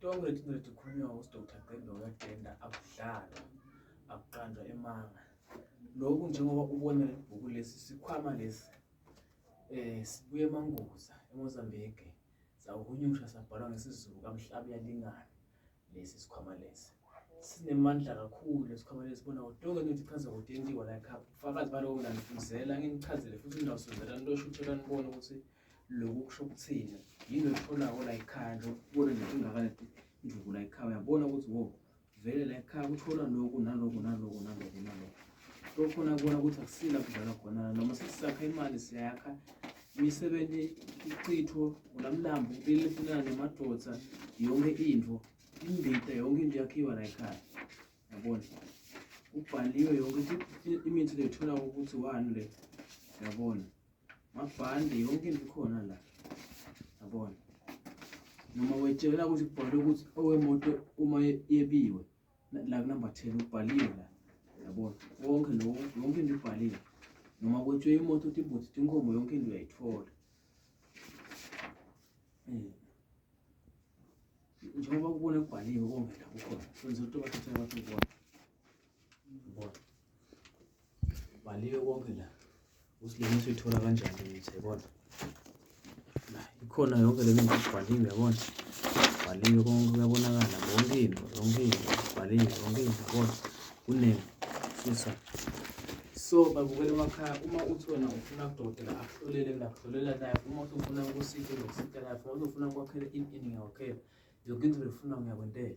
Tonke izinto zikhulunywa uSdr Qendo kaTenda akudlalwa akuqanjwa emanga lokhu njengoba ubona ibhuku lesi sikhwama lesi eh sibuye emangoza eMozambique sawuhunyusha sabhalwa ngesizulu kamhlaba uyalingana lesi sikhwama lesi sinemandla kakhulu lesikhwama lesi bona utoke nithi chaza kudentiwa la ekhapha ubufakazi balowo mlandifundisela nginichazele futhi nginawusondela nitosho uthola nibone ukuthi lokhu kusho ukuthini yini olitholako la ekhaya nje ukubona nje ingakaleti induku la ekhaya uyabona ukuthi wo vele la ekhaya kuthola loku naloku naloku naloku naloku lokhona kubona ukuthi akusila kudlala khona noma sesisakha imali siyakha imisebenzi ichitho ulamlambo belifunana nemadoda yonke into imbita yonke into yakhiwa la ekhaya yabona ubhaliwe yonke imithi lethola ukuthi wani le yabona mabhande yonke into ikhona la yabona noma wetshelela ukuthi kubhalwe ukuthi owemoto uma yebiwe la kunamba ten ubhaliwe la yabona konke loku yonke into ibhaliwe noma kwetshwe imoto tibhuthi tinkomo yonke into uyayithola um njengoba kubona kubhaliwe konke la kukhona senzotobathatha abantu kubona Baliwe konke la. Usilungisa uyithola kanjani imithi yabona? La ikhona yonke le mithi ibhaliwe yabona? Bhaliwe konke kuyabonakala yonke into yonke into ibhaliwe yonke into yabona? Kuningi susa. So babukela emakhaya uma uthi wena ufuna kudokotela akuhlolele mina akuhlolela naye uma uthi ufuna kusithe nokusitha naye uma uthi ufuna kwakhele ini ini ngiyakwakhela yonke into lefuna ngiyakwentela.